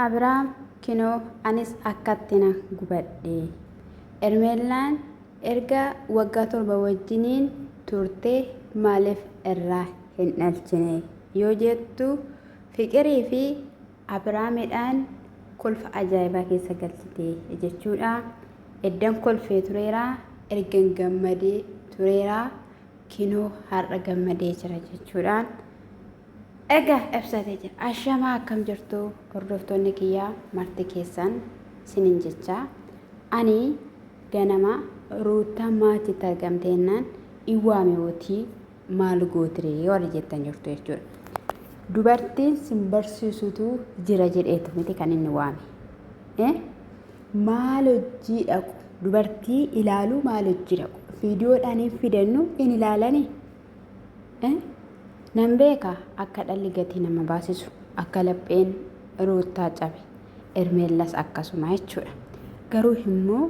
Abraam, Kinoo anis akkatti nan gubadhe. Ermeellaan erga waggaa torba wajjiniin turtee maaliif irraa hin dhalchine yoo jettu Fiqirii fi Abraamidhaan kolfa ajaa'ibaa keessa galchite jechuudha. Eddan kolfee tureera, ergan gammadee tureera, kinoo har'a gammadee jira jechuudhaan. Ega ibsate jira. Ashamaa akkam jirtu hordoftoonni kiyyaa marti keessan sinin jecha ani ganama ruuttaa maatitti argamte jennaan in waame wotii maal gootire warri jettan jirtu jechuudha. Dubartiin sin barsiisutu jira jedheetu miti kan inni waame. Eh? Maal hojii dhaqu dubartii ilaaluu maal hojii dhaqu fiidiyoodhaan hin fidannu in ilaalanii. Nan beeka akka dhalli gatii nama baasisu akka lapheen ruuttaa cabe ermeellas akkasuma jechuudha. Garuu immoo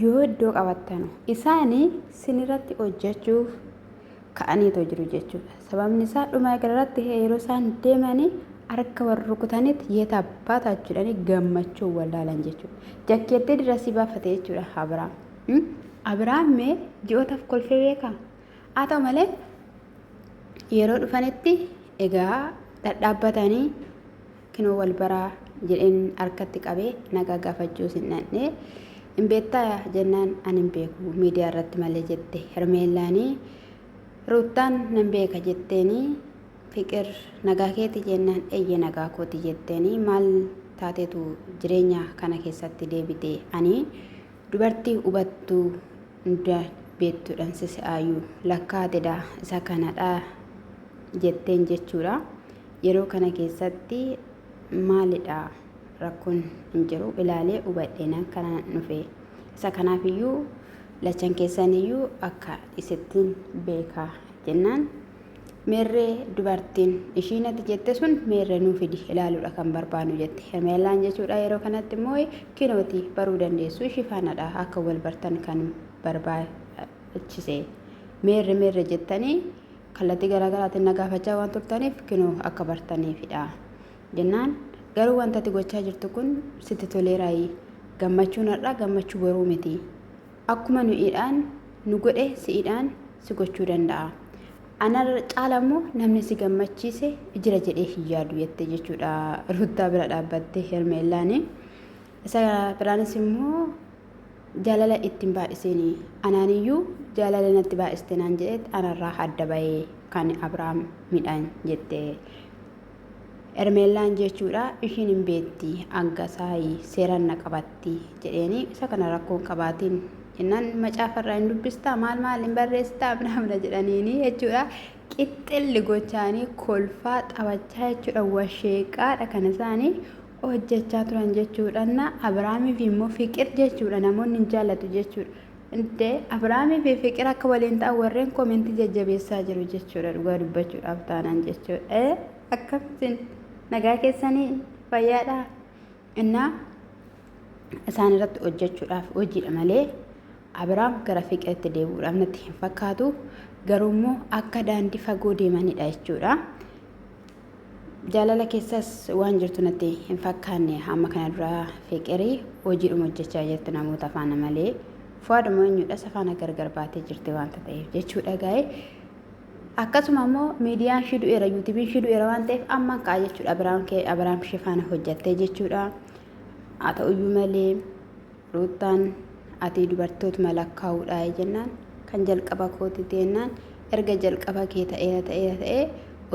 yoo iddoo qabattanu isaanii sinirratti hojjechuuf ka'aniitoo jiru jechuudha. Sababni isaa dhuma irratti yeroo isaan deemanii harka wal rukutanitti yeeta abbaa taachuudhaan gammachuu wallaalan jechuudha. Jakkeettee dirasii baafate jechuudha Abiraam. Abiraam mee ji'ootaaf kolfee beekaa? Haa ta'u malee yeroo dhufanitti egaa dhadhaabbatanii kinoo wal baraa jedheen harkatti qabee nagaa gaafachuus hin dhandhee hin beektaa jennaan an hin beeku miidiyaa irratti malee jette hermeellaanii ruuttaan nan beeka jetteenii fiqir nagaa keeti jennaan eyye nagaa kooti jetteenii maal taatetu jireenya kana keessatti deebite ani Dubartii hubattuu hunda beektudhan sisi'aayuu lakkaatedha isa kanadha jetteen jechuudha. Yeroo kana keessatti maalidha rakkoon hin jiru ilaalee hubadheenan kana nufe isa kanaafiyyuu lachan keessaniyyuu akka isittiin beekaa jennaan Meerree dubartiin ishii nati jette sun meerre nuu fidi ilaaluudha kan barbaannu jette. Hermeellaan jechuudha yeroo kanatti immoo kinooti baruu dandeessu ishii faanadha akka wal bartan kan barbaachise. Meerre meerre jettanii kallattii garaagaraatiin na gaafachaa waan turtaniif kinoo akka bartaniifidha. Jennaan garuu wanta ati gochaa jirtu kun sitti toleeraayi. Gammachuun har'aa gammachuu boruu miti. Akkuma nu'iidhaan nu godhe si'idhaan si gochuu danda'a. Ana caala immoo namni si gammachiise jira jedhee hin yaadu jette jechuudha Ruuttaa bira dhaabbattee Hermeellaani. Isa biraanis immoo jaalala ittiin baay'iseen anaaniyyuu jaalala natti baay'iste naan jedhetti anarraa adda bahee kan Abiraam midhaan jette Ermeellaan jechuudha ishiin hin beetti angasaayi seeraan na qabatti jedheeni isa kana rakkoo hin qabaatiin jennaan macaafa irraa hin dubbistaa maal maal hin barreessitaa abnaamna jedhaniini jechuudha qixxilli gochaanii kolfaa taphachaa jechuudha washeeqaadha kan isaanii hojjechaa turan jechuudha abiraamiif immoo fiqir jechuudha namoonni hin jaallatu jechuudha Dee, Abiraamii fi Fiqir akka waliin ta'an warreen komentii jajjabeessaa jiru jechuudha dhugaa dubbachuudhaaf taanaan jechuudha. Ee akkamtiin nagaa keessanii fayyaadhaa? Innaa isaan irratti hojjechuudhaaf hojiidha malee Abiraam gara Fiqiritti deebi'uudhaaf natti hin fakkaatu. Garuu immoo akka daandii fagoo deemanidha jechuudha. Jaalala keessas waan jirtu natti hin fakkaanne amma kana duraa fiqirii hojiidhuma hojjechaa jirti namoota faana malee fuwaaduma eenyudha isa faana gargar baatee jirti waanta ta'eef jechuudha gaa'e akkasuma immoo miidiyaan ishii du'eera yuutubiin ishii du'eera waan ta'eef ammaan ka'a jechuudha abiraam ishee faana hojjettee jechuudha Haa ta'uyyuu malee Ruuttaan ati dubartootuma lakkaa'uudha jennaan kan jalqaba kooti teennaan erga jalqaba kee ta'eera ta'eera ta'ee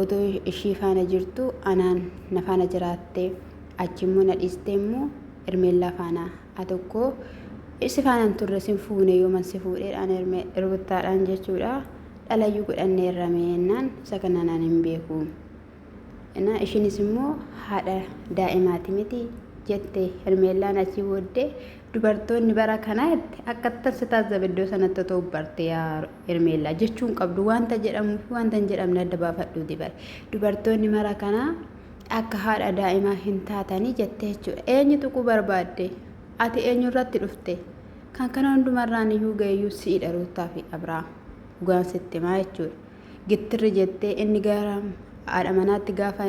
otoo ishii faana jirtu anaan na faana jiraatte achi immoo na dhiistee immoo Ermeellaa faana a tokko si faanaan turre sin fuune yooman si fuudheedhaan Erme- Ruuttaadhaan jechuudha dhalayyuu godhanneerra meennaan isa kana naan hin beeku. Inaa ishinis immoo haadha daa'imaati miti jette Hermeellaan achii booddee dubartoonni bara kanaa itti akkattan si taasisa iddoo sanatti otoo barte yaa Hermeellaa jechuun qabdu wanta jedhamuu fi wanta hin jedhamne adda baafadhuu dibare dubartoonni mara kanaa akka haadha daa'imaa hin taatanii jette jechuudha eenyu tuquu barbaadde ati eenyu irratti dhufte kan kana hundumarraan iyyuu ga'eeyyuu si'idha ruuttaa fi abiraam dhugaan sitti himaa jechuudha. gittirri jettee inni gara haadha manaatti gaafa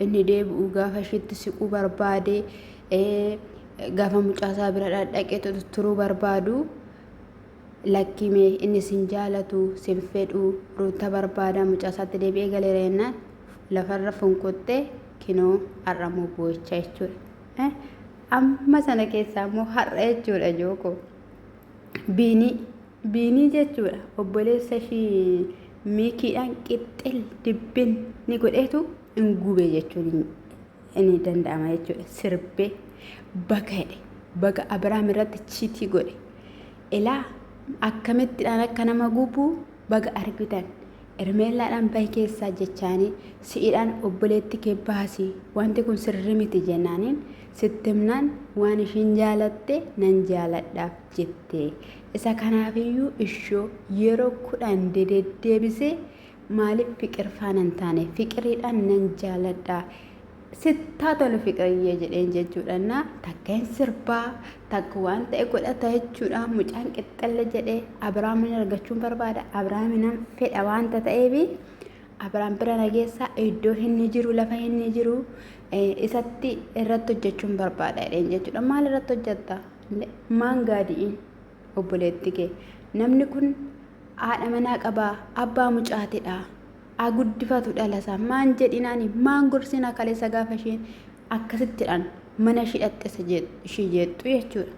inni deebi'u gaafa ishiitti siquu barbaade gaafa mucaasaa bira dhaqee turuu barbaadu lakkimee inni sin jaalatu sin fedhu ruuta barbaada mucaasaatti deebi'ee galeera jennaan lafarra funquttee kinoo har'a immoo boo'icha jechuudha. Amma sana keessaa immoo har'a jechuudha jooko biinii. Biinii jechuudha obboleessa ishii miikiidhaan qixxil dibbin ni godheetu hin gube jechuun ni danda'ama jechuudha. Sirbee baga jedhe baga Abiraam irratti chiitii godhe ilaa akkamittidhaan akka nama gubu baga argitan. Ermeellaadhaan bahi keessaa jechaanii si'idhaan obboleetti kee baasi wanti kun sirri miti jennaaniin sitti himnaan waan ishiin jaalatte nan jaaladhaaf jette Isa kanaafiyyuu ishoo yeroo kudhan dededdeebisee maaliif fiqir faana hin taane fiqiriidhaan nan jaaladha sittaa tolu fiqiriyyee jedheen jechuudha na takka hin sirbaa takka waan ta'e godhata jechuudha mucaan qixxalle jedhee abiraamin argachuun barbaada abiraaminan fedha waanta ta'eefi abiraam bira nageessaa iddoo inni jiru lafa inni jiru isatti irratti hojjechuun barbaada jedheen jechuudha maal irratti hojjetta maan gaadi'in obboleetti kee namni kun haadha manaa qabaa abbaa mucaatidha haa guddifatu dhalasa maan jedhinaani maan gorsina kaleessa gaafa isheen akkasittidhaan mana ishii dhaxxessa ishii jeexxu jechuudha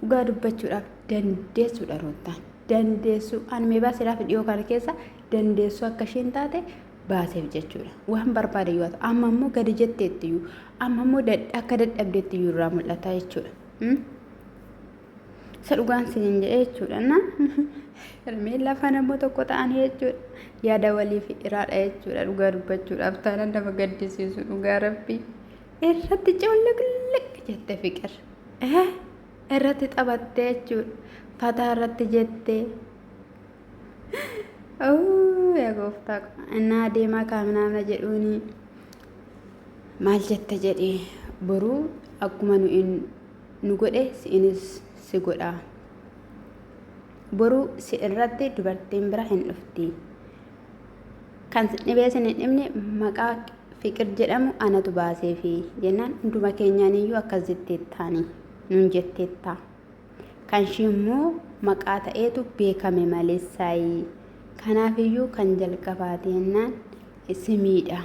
dhugaa dubbachuudhaaf dandeessuudha roottaan dandeessuu anmeebaa siraaf dhiyoo kana keessa dandeessuu akka isheen taate baaseef jechuudha. Waan barbaade yoo ta'u amma immoo gadi jetteetti iyyuu amma immoo akka dadhabdeetti iyyuu irraa mul'ata jechuudha. Isa dhugaan siin jedhee jechuudha. Na hirmeen lafa nama tokko ta'anii jechuudha. Yaada waliif iraadha jechuudha. Dhugaa dubbachuudhaaf taanaan nama gaddisiisu dhugaa rabbii. Irratti coollaqlaq jette fiqir. Irratti taphattee jechuudha. Fataa irratti jettee. Ooh, yaa gooftaa ko. Innaa adeemaa kaaminaamna jedhuuni maal jetta jedhe boruu akkuma nu in nu godhe si'inis si godha. Boruu si irratti dubartiin bira hin dhufti. Kan si dhibee sin hin dhibne maqaa fiqir jedhamu anatu baaseefi jennaan hunduma keenyaaniyyuu akkas jetteettaani nun jetteetta. kanshii immoo maqaa ta'eetu beekame malee saayii kanaafiyyuu kan jalqabaati jennaan simiidha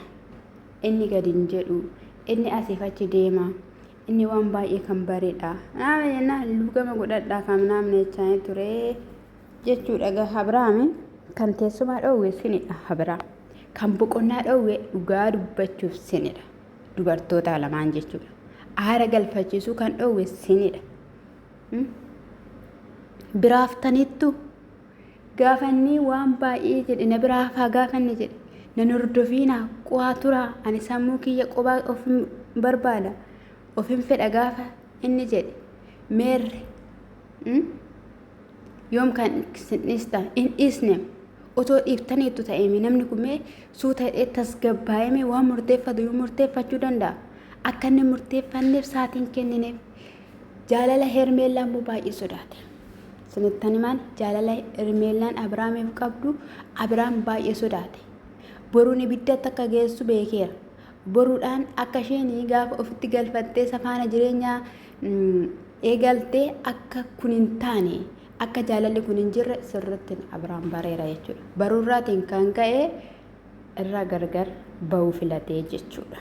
inni gadi hin jedhu inni asiif achi deema inni waan baay'ee kan bareedha naama jennaan luugama godhadhaa kan naamna jechaanii ture jechuudha gaha Abiraami kan teessumaa dhoowwe sinidha Abiraam kan boqonnaa dhoowwe dhugaa dubbachuuf sinidha dubartoota lamaan jechuudha aara galfachiisuu kan dhoowwe sinidha biraaftaniittu gaafannii waan baay'ee jedhe na biraa hafaa gaafanne jedhe na hordofiina qo'aa turaa ani sammuu kiyya qobaa ofin barbaada ofin fedha gaafa inni jedhe meerre yoom kan isin dhiistan hin dhiisne otoo dhiiftaniittu ta'eeme namni kun mee suuta hidhee tasgabbaa'eeme waan murteeffatu yoo murteeffachuu danda'a akka inni murteeffanneef saatiin kennineef Jaalala Hermeellaa immoo baay'ee sodaate. Isinittan himaan jaalala Hermeellaan Abiraamiif qabdu Abiraam baay'ee sodaate. Boruun ibiddatti akka geessu beekeera. Boruudhaan akka isheen gaafa ofitti galfattee safaana jireenyaa eegaltee akka kun hin taane akka jaalalli kun hin jirre sirriitti Abiraam bareera jechuudha. Baruurraatiin kan ka'e irraa gargar ba'uu filate jechuudha.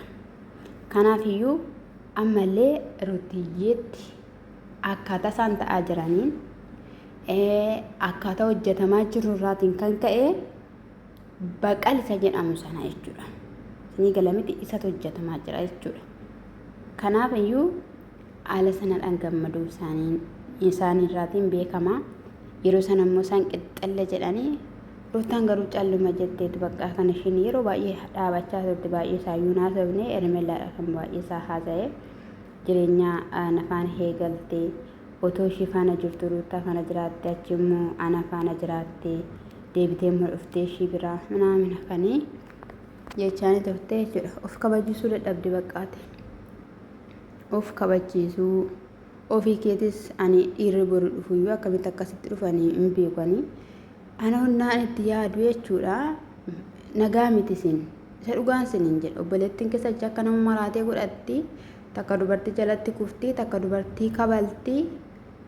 Kanaafiyyuu ammallee Rutiyyeetti akkaataa isaan ta'aa jiraniin akkaataa hojjetamaa jiru irraatiin kan ka'e baqal isa jedhamu sana jechuudha. Isinii galamiti isatu hojjetamaa jira jechuudha. Kanaafiyyuu haala sanadhaan gammaduu isaanii isaaniirraatiin beekama. Yeroo sana immoo isaan qixxalle jedhanii Ruuttaan garuu calluma jetteetu bakka kan ishiin yeroo baay'ee dhaabachaa turte baay'ee isaayyuu hin haasofne Ermellaadha kan baay'ee isaa haasa'e jireenyaa nafaan heegalte otoo ishii faana jirtu ruuttaa faana jiraatte achi immoo ana faana jiraatte deebitee immoo dhuftee ishii biraa minaamina kanii jechaanii turte jechuudha of kabajisuu dadhabde baqqaate of kabachiisuu. Ofii keetis ani dhiirri boru dhufuyyuu akkamitti akkasitti dhufanii hin beekanii. Ana onnaan itti yaadu jechuudha. Nagaa miti isin. Isa dhugaan isin hin jedhu. Obboleettiin keessa jecha akka nama maraatee godhatti. Takka dubartii jalatti kufti, takka dubartii kabalti.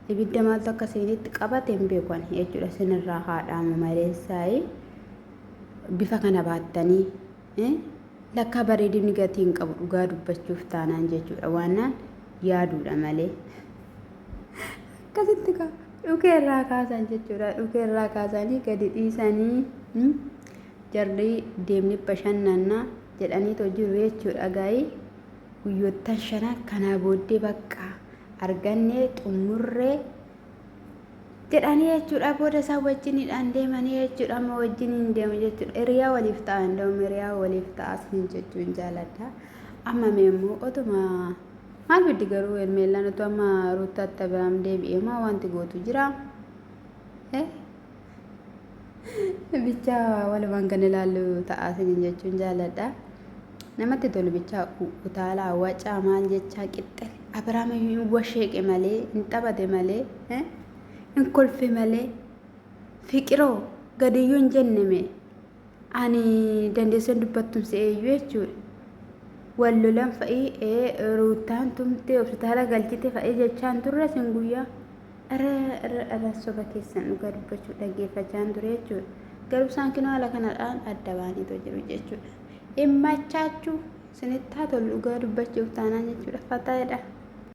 Ibidda maaltu akka isinitti qabate hin beekan jechuudha. Isinirraa haadhaamu maleessaayi. Bifa kana baattanii Lakkaa bareedinni gatii hin qabu dhugaa dubbachuuf taanaan jechuudha waannaan yaaduudha malee. Akkasitti kaa dhukee irraa kaasan jechuudha dhukee irraa kaasanii gadi dhiisanii hmm? jarri deemni bashannanna jedhanii too jiru jechuudha gaa'ii guyyoottan shanan kanaa booddee bakka argannee xumurree jedhanii jechuudha booda isaa wajjinidhaan deemanii jechuudha amma wajjin hin deemu jechuudha hiriyaa waliif ta'a indoom hiriyaa waliif ta'a sin jechuun jaaladha amma mee immoo otuma maal biddi garuu hermeellaan utuu amma ruuttaatti abiraam deebi'ee maa wanti gootu jira eh Bichaa walumaan kan ilaallu ta'aa isiniin jechuun jaaladha. Namatti tolu bichaa utaalaa wacaa maal jechaa qixxe Abiraam hin washeeqe malee hin taphate malee hin kolfe malee fiqiroo gadiyyuu hin jenne mee ani dandeessan dubbattuun si eeyyuu jechuudha. Wal lolan fa'ii ruuttaan tumtee hospitaala galchite fa'ii jechaan turre sin guyyaa. Ara irra dhaban soba keessan dhugaa dubbachuu dhaggeeffachaan ture jechuudha. Garuu isaan kinoo haala kanadhaan adda baaniitoo jiru jechuudha. Immachaachuu sinittaa tolu dhugaa dubbachuuf taanaan jechuudha. Fataayedha.